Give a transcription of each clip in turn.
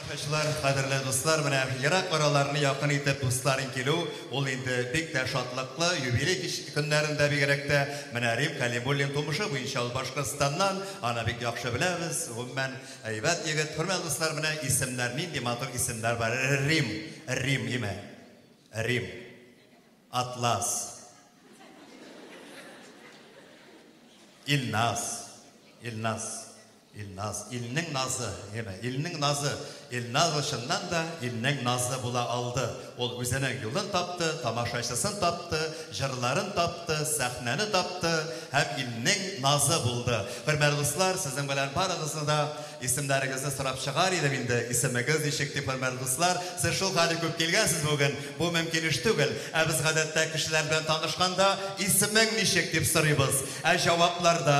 Тамашачылар, кадерле дуслар, менә ерак араларны якын итеп дусларын килү, ул инде бик тә шатлыклы, юбилей кич көннәрендә бигрәк тә. Менә Рим Кәлимуллин тумышы буенча ул Башкортстаннан, аны бик яхшы беләбез, гомумән, әйбәт егет. Хөрмәтле дуслар, менә исемнәр, нинди матур исемнәр бар, Рим, Рим, име? Рим. Атлас. Илназ. Илназ. Илназ, илнең назы, яме, илнең назы, Илназы чыннан да илнең назы була алды. Ул үзенең юлын тапты, тамашачысын тапты, җырларын тапты, сәхнәне тапты һәм илнең назы булды. Хөрмәтле дуслар, сезнең белән барыгызны да исемнәрегезне сорап чыгар идем инде. Исемегез ничек дип, хөрмәтле дуслар? Сез шул хәле күп килгәнсез бүген, бу мөмкин эш түгел. Ә без гадәттә кешеләр белән танышканда, исемең ничек дип сорыйбыз. Ә җавапларда,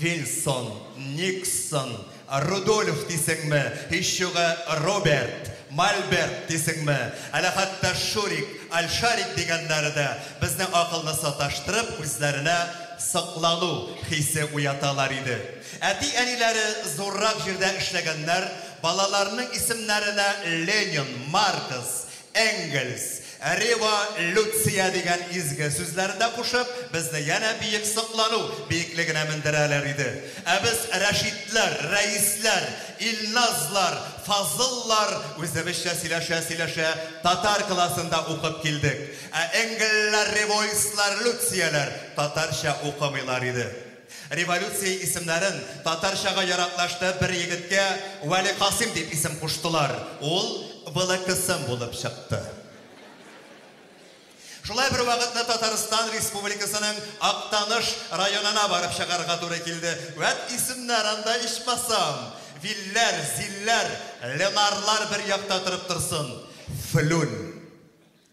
Вильсон, Никсон, Рудольф дисеңме, һичьюгы Роберт, Мальберт дисеңме, әле хәтта Шурик, Альшарик дигәннәре дә безнең акылны саташтырып, үзләренә соклану хисе уяталар иде. Әти-әниләре зуррак җирдә эшләгәннәр, балаларының исемнәренә Ленин, Маркс, Энгельс, рево люция дигән изге сүзләрен дә кушып, безне янә биек соклану биеклегенә мендерәләр иде. Ә без, Рәшитләр, Рәисләр, Илназлар, Фазыллар, үзебезчә сөйләшә-сөйләшә, татар классында укып килдек. Ә энгельләр, ревоислар, люцияләр татарча укымыйлар иде. Революция исемнәрен татарчага яраклаштырып бер егеткә Вәликасыйм дип исем куштылар. Ул Вылыкысым булып чыкты. Шулай бер вакытны Татарстан Республикасының Актаныш районына барып чыгарга туры килде. Вәт исемнәр анда ичмасам! Вилләр, Зилләр, Ленарлар бер якта торып торсын. Флүн.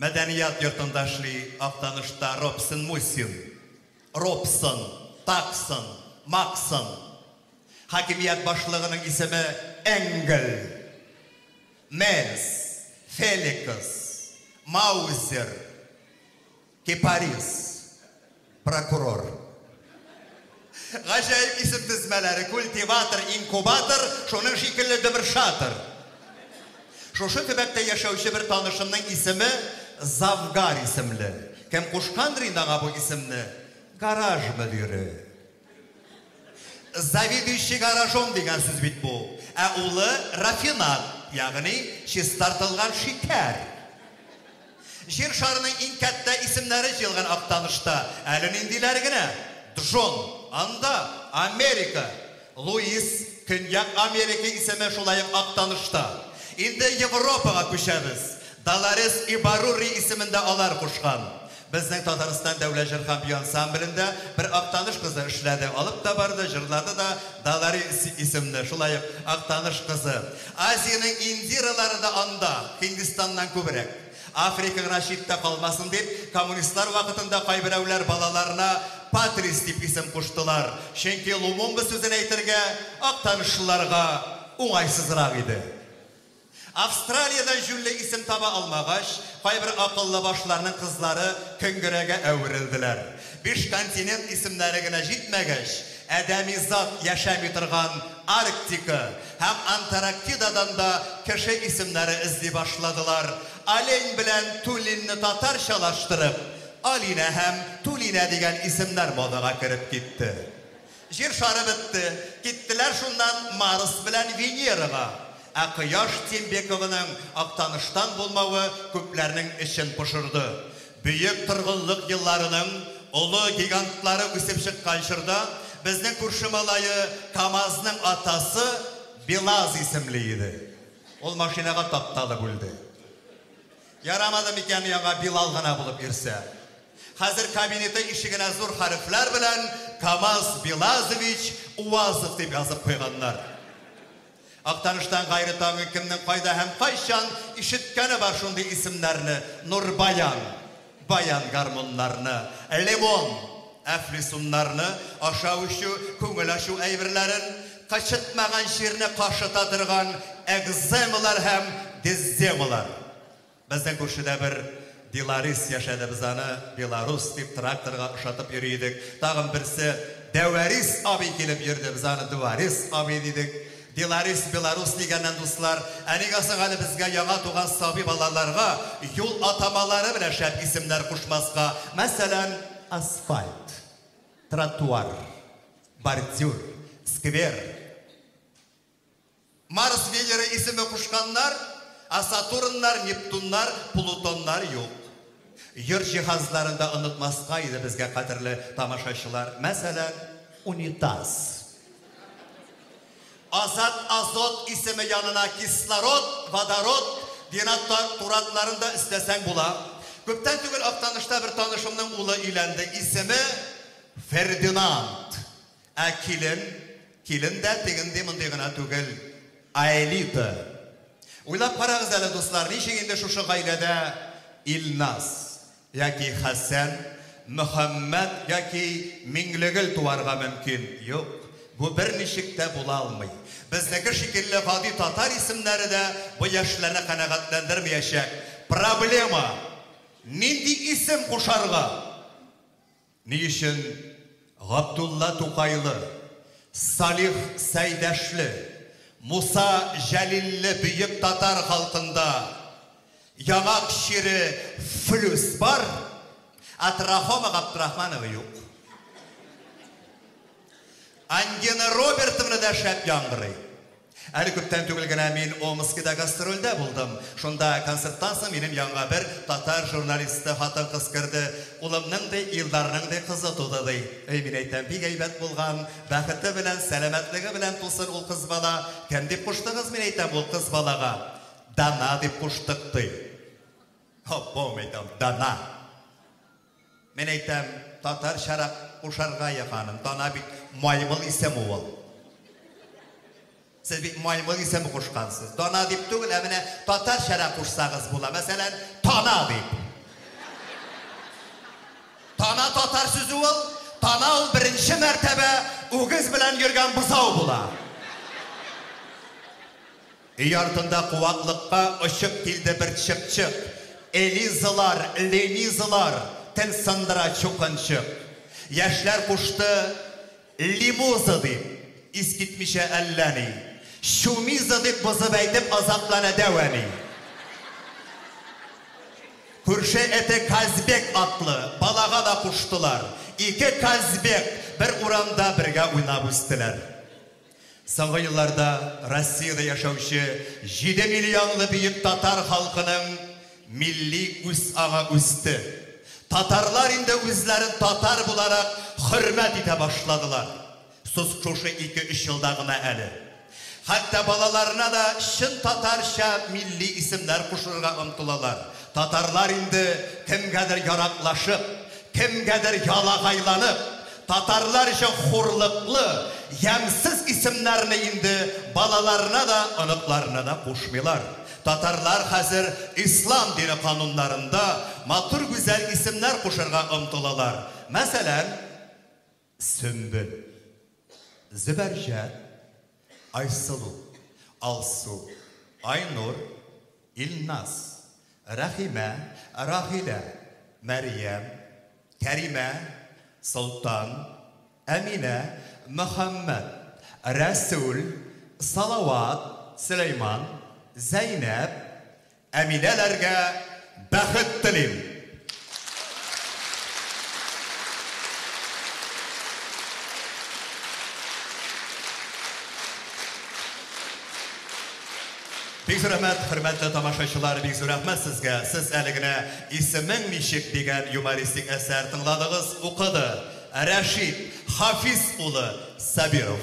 Мәдәният йортында эшли Актанышта Робсон Мусин. Робсон, Таксон, Максон. Хакимият башлыгының исеме Энгель. Мельс, Феликс, Маузер, Кипарис. Прокурор. Гаҗәеп исем тезмәләре, культиватор, инкубатор, шуның шикелле дөбер шатыр. Шушы төбәктә яшәүче бер танышымның исеме Завгар исемле. Кем кушкандыр инде аңа бу исемне? Гараж мөдире. Заведующий гаражом дигән сүз бит бу. Ә улы рафинад, ягъни чистартылган шикәр. Җир шарының иң кәттә исемнәре җыелган Актанышта әле ниндиләр генә! Джон, анда, Америка. Луис, Көньяк Америка исеме шулай ук Актанышта. Инде Европага күчәбез. Долорес Ибаррури исемен дә алар кушкан. Безнең Татарстан дәүләт җыр һәм бию ансамблендә бер Актаныш кызы эшләде, алып та барды, җырлады да, Далари исемле, шулай ук Актаныш кызы. Азиянең Индиралары да анда, Һиндистаннан күбрәк. Африка гына читтә калмасын дип, коммунистлар вакытында кайберәүләр балаларына Патрис дип исем куштылар, чөнки Лумумба сүзен әйтергә актанышлыларга уңайсызрак иде. Австралиядә җүнле исем таба алмагач, кайбер акыллы башларның кызлары Көнгерәгә әверелделәр. Биш континент исемнәре генә җитмәгәч, адәми зат яшәми торган Арктика һәм Антарактидадан да кеше исемнәре эзли башладылар. Олень белән Тулинны татарчалаштырып, Алинә һәм Тулинә дигән исемнәр модага кереп китте. Җир шары бетте, киттеләр шуннан Марс белән Венерага. Ә Кояш Тимбекованың Актаныштан булмавы күпләрнең эчен пошырды. Бөек торгынлык елларының олы гигантлары үсеп чыккан чорда безнең күрше малае КАМАЗның атасы Белаз исемле иде. Ул машинага тапталып үлде. Ярамады микән яңа Билал гына булып йөрсә? Хәзер кабинеты ишегенә зур хәрефләр белән Камаз Билазович Уазов дип язып куйганнар. Актаныштан гайре тагын кемнең кайда һәм кайчан ишеткәне бар шундый исемнәрне, Нурбаян, Баян гармуннарны, Лимон, Әфлисуннарны ашау эчү, күңел ачу әйберләрен, кычытмаган чирне кашыта торган экземалар һәм дезземалар. Безнең күршедә бер Беларис яшәде, без аны Беларус дип тракторга ошатып йөри идек. Тагын берсе Дәварис абый килеп йөрде, без аны Дуварис абый дидек. Беларис, Беларус дигәннән, дуслар, ә нигә соң әле безгә яңа туган сабый балаларга юл атамалары белән шәп исемнәр кушмаска? Мәсәлән, асфальт, тротуар, бордюр, сквер. Марс Венера исеме кушканнар, а Сатурннар, Нептуннар, Плутоннар юк. Йорт җиһазларын да онытмаска иде безгә, кадерле тамашачылар. Мәсәлән, унитаз. Азат азот исеме янына кислород, водород, денатуратларын да өстәсәң була. Күптән түгел Актанышта бер танышымның улы өйләнде. Исеме Фердинанд. Ә килен, килен дә тегенди мондый гына түгел, Аэлита. Уйлап карагыз әле, дуслар, ничек инде шушы гаиләдә Илназ? Яки Хәсән, Мөхәммәт яки Миңлегөл туарга мөмкин. Юк, бу берничек тә була алмый. Безнеке шикелле гади татар исемнәре дә бу яшьләрне канәгатьләндермиячәк. Проблема, нинди исем кушарга? Ни өчен Габдулла Тукайлы, Салих Сәйдәшле, Муса Җәлилле бөек татар халкында яңак чире флүс бар, ә Трахома Габдрахманова юк? Ангина Робертовна да шәп яңгырый. Әле күптән түгел генә мин Омскида гастрольдә булдым. Шунда концерттан соң минем янга бер татар журналисты хатын-кыз керде. Улымның, ди, Илдарның, ди, кызы туды, ди. Эй, мин әйтәм, бик әйбәт булган, бәхете белән, сәламәтлеге белән тусын ул кыз бала. Кем дип куштыгыз, мин әйтәм, ул кыз балага? Дана дип куштык, ди. Аппау, мәйтәм, Дана! Мин әйтәм, татарчарак кушарга яханым, дана бит, маймыл исеме ул. Сез бит маймыл исеме кушкансыз. Дана дип түгел, ә менә татарчарак кушсагыз була. Мәсәлән, тана дип. Тана татар сүзе ул, тана ул беренче мәртәбә үгез белән йөргән бозау була. Өй артында куаклыкка очып килде бер чыпчык, Элизалар, Ленизалар, тел сындыра чукынчык. Яшьләр кушты Лимуза дип, искитмичә әллә ни, Чумиза дип бозып әйтеп азаплана дәү әни. Күрше эте Казбек атлы балага да куштылар. Ике Казбек бер урамда бергә уйнап үстеләр. Соңгы елларда Россиядә яшәүче җиде миллионлы бөек татар халкының милли үзаңы үсте. Татарлар инде үзләрен татар буларак хөрмәт итә башладылар. Сус шушы ике-өч елда гына әле. Хәтта балаларына да чын татарча милли исемнәр кушырырга омтылалар. Татарлар инде кемгәдер яраклашып, кемгәдер ялагайланып, Татарлар өчен хурлыклы, ямьсез исемнәрне инде балаларына да, оныкларына да кушмыйлар. Татарлар хәзер ислам дине кануннарында матур гүзәл исемнәр кушырга омтылалар. Мәсәлән, Сөмбел. Зөбәрҗәт. Айсылу, Алсу, Айнур, Илназ, Рәхимә, Рагыйлә, Мәрьям, Кәримә, Солтан, Әминә, Мөхәммәт, Рәсүл, Салават, Сөләйман, Зәйнәп, Әминәләргә бәхет телим! Бик зур рәхмәт, хөрмәтле тамашачылар, бик зур рәхмәт сезгә. Сез әле генә Исемең ничек дигән юмористик әсәр тыңладыгыз, укыды Рәшит Хафиз улы Сабиров.